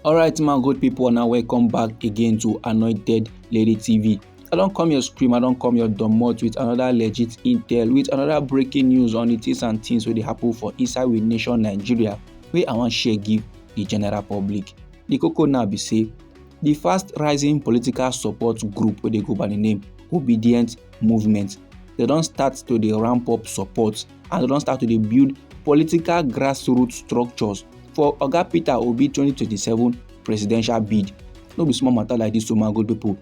alright my good people now welcome back again to anointed lady tv i don't come your scream i don't come your domot with another legit intel with another breaking news on the things and things where they happen for inside with nation nigeria Where i wan share give the general public the cocoa now be say the fast rising political support group where they go by the name obedient movement They don't start to the ramp up support as dem don start to dey build political grassroots structures for oga peter obi 2027 presidential bid no be small matter like this o my good people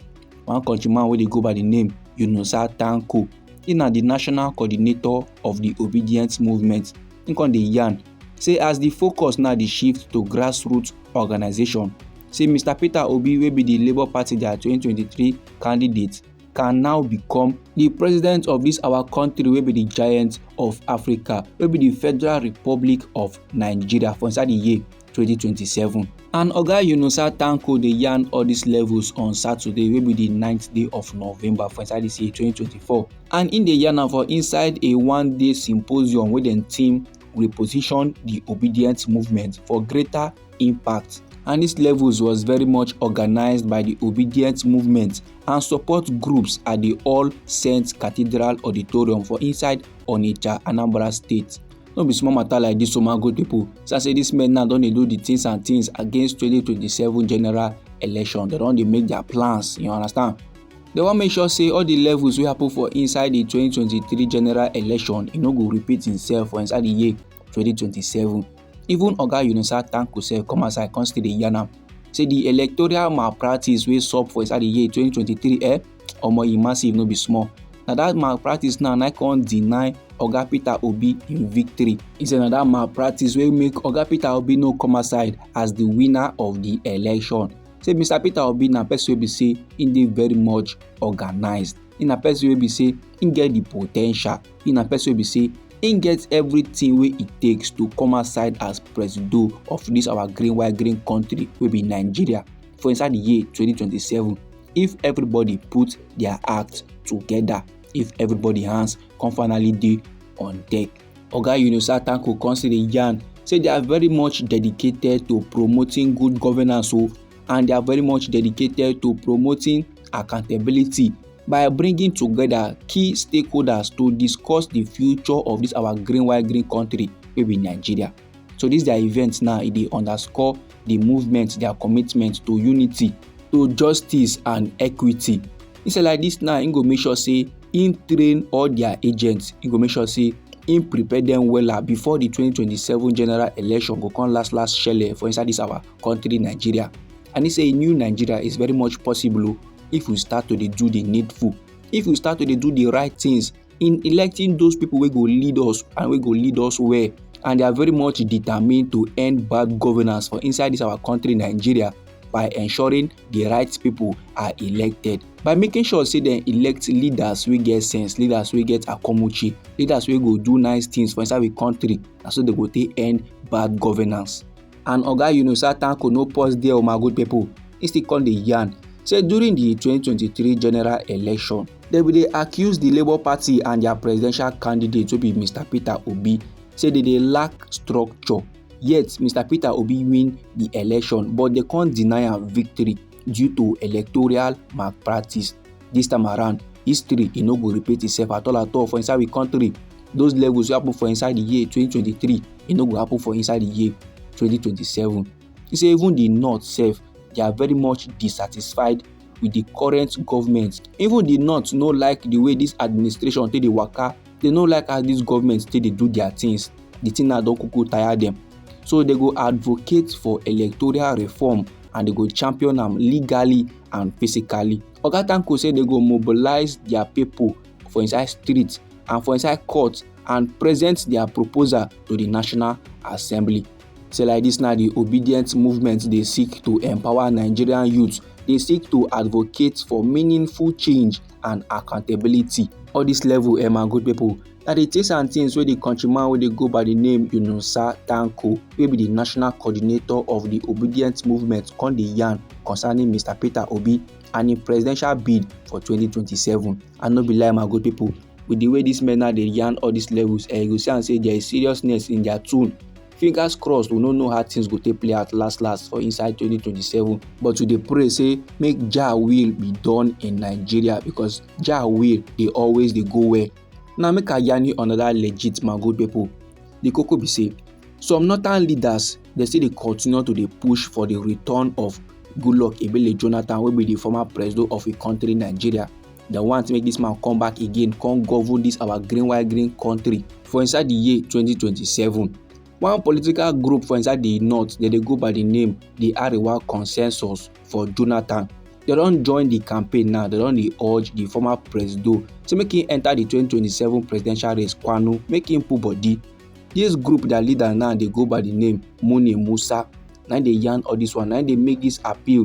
one countryman wey dey go by the name yunusa tanko he na the national coordinator of the obedience movement he come dey yarn say as the focus now dey shift to grassroots organization say mr peter obi wey be the labour party their 2023 candidate can now become di president of dis our kontri wey be di giant of africa wey be di federal republic of nigeria for inside di year 2027 and oga yunusa tanko dey yarn all dis levels on saturday wey be di 9th day of november for inside dis year 2024 and im dey yarn am for inside a one day symposium wey dem team reposition di obedient movement for greater impact and dis levels was very much organised by di obedient movement and support groups at the All Saints Cathedral Auditorium for inside Onitsha, Anambra State. No be small matter like this, so my good people. So I say this men now don dey do the things and things against 2027 general election. They don dey make their plans, you understand? They wan make sure say all the levels wey happen for inside the 2023 general election e no go repeat himself for inside the year 2027. Even Oga Yunusa Tanko sef come outside come still dey yarn am say the electoral malpractice wey sup for inside the year 2023 eh omo e massive no be small na that malpractice now na come deny oga peter obi im victory He say na that malpractice wey make oga peter obi no come outside as the winner of the election say mr peter obi na person wey be say im dey very much organized im na person wey be say im get the potential he na person wey be say im get everything wey e takes to come outside as presido of this our green white green country wey be nigeria for inside the year 2027 if everybody put their act together if everybody hands come finally dey on deck oga yunusa tanko come still dey yarn say they are very much dedicated to promoting good governance o oh, and they are very much dedicated to promoting accountability by bringing together key stakeholders to discuss the future of this our green white green country wey be nigeria so this their event now e dey underscore the movement their commitment to unity to justice and equity instead like this now im go make sure say im train all their agents im go make sure say im prepare them wella before the 2027 general election go come last last shele for inside this our country nigeria and he say a new nigeria is very much possible oh, if we start to do the needful if we start to do the right things in electing those people wey go lead us and wey go lead us well and they are very much determined to end bad governance for inside this our country nigeria by ensuring the right people are elected by making sure say dem elect leaders wey get sense leaders wey get akomuchi leaders wey go do nice things for inside the country na so dem go take end bad governance. and oga yunusa tanko no pause there o my good pipo e still come dey yarn say during di 2023 general election dem bin dey accuse di labour party and dia presidential candidate wey be mr peter obi say dem dey lack structure yet mr peter obi win di election but dem come deny am victory due to electoral malpractice this time around history e no go repeat itself at all at all for inside we country those levels wey happen for inside the year 2023 e no go happen for inside the year 2027 e say even the north sef they are very much dissatisfied with the current government even the north no like the way this administration take dey waka they no like how this government take dey do their things the thing now don kuku tire them so they go advocate for electoral reform and they go champion am legally and physically oga tanko say they go mobilize their people for inside street and for inside court and present their proposal to the national assembly say like this na the obedient movement dey seek to empower nigerian youth dey seek to advocate for meaningful change and accountability. All this level, eh, my good people, na the things and things wey the countryman wey dey go by the name Yunusa Tanko, wey be the national coordinator of the Obedient Movement, come dey yarn concerning Mr. Peter Obi and im presidential bid for 2027. And no be lie, my good people, with the way these men now dey yarn all these levels, eh, you go see am say there is seriousness in their tone. fingers crossed we no know how things go take play out last last for inside 2027 but we dey pray say make jah will be done in nigeria because jah will dey always dey go well now make i yarn you another legit my good people the koko be say some northern leaders dey still dey continue to dey push for the return of goodluck ebele jonathan wey be the former president of a country nigeria dem want make dis man come back again come govern dis our green white green country for inside di year 2027 one political group for inside di north dem dey go by di name di arewa consensus for jonathan dem don join di campaign now dem don dey urge di former presido say make im enta di 2027 presidential race kwanu make im put body dis group dia leader now dey go by di name muni musa na im dey yarn all dis one na im dey make dis appeal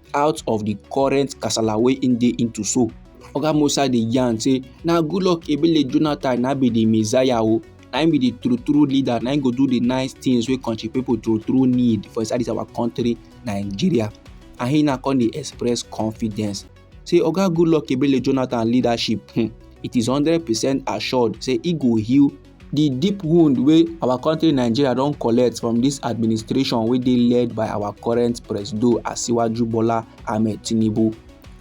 out of the current kasala wey im dey into so oga musa dey yarn say na goodluck ebele jonathan na be the messiah o na im be the true true leader na im go do the nice things wey country people true true need for inside this our country nigeria and he na come dey express confidence say oga goodluck ebele jonathan leadership hmm, it is hundred percent assured say he go heal di deep wound wey our country nigeria don collect from dis administration wey dey led by our current presido asiwaju bola ahmed tinubu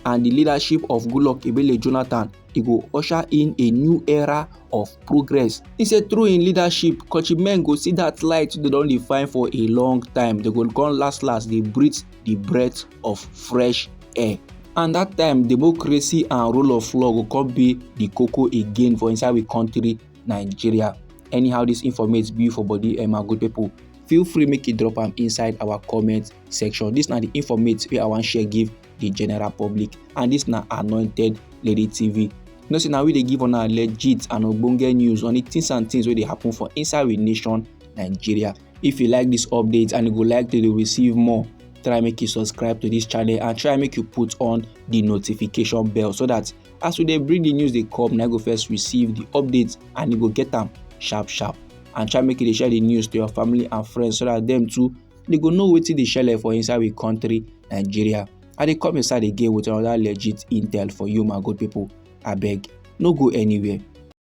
and di leadership of goodluck ebele jonathan e go usher in a new era of progress e say through im leadership kontri men go see dat light wey dem don dey find for a long time dem go come last last dey breathe di breath of fresh air and dat time democracy and rule of law go come be di koko again for inside we country nigeria anyhow dis informate be for body um, my good people feel free make you drop am inside our comment section dis na di informate wey i wan share give di general public and dis na anointed lady tv you know say na we dey give una legit and ogbonge news on di things and things wey dey happen for inside we nation nigeria If you like this update and you go like to receive more, try make you subscribe to this channel and try make you put on the notification bell so that as we dey bring the news dey come na go first receive the updates and you go get am sharp sharp and try make you dey share the news to your family and friends so that them too they go know wetin dey shele for inside we country nigeria i dey come inside again with another legit intel for you my good people abeg no go anywhere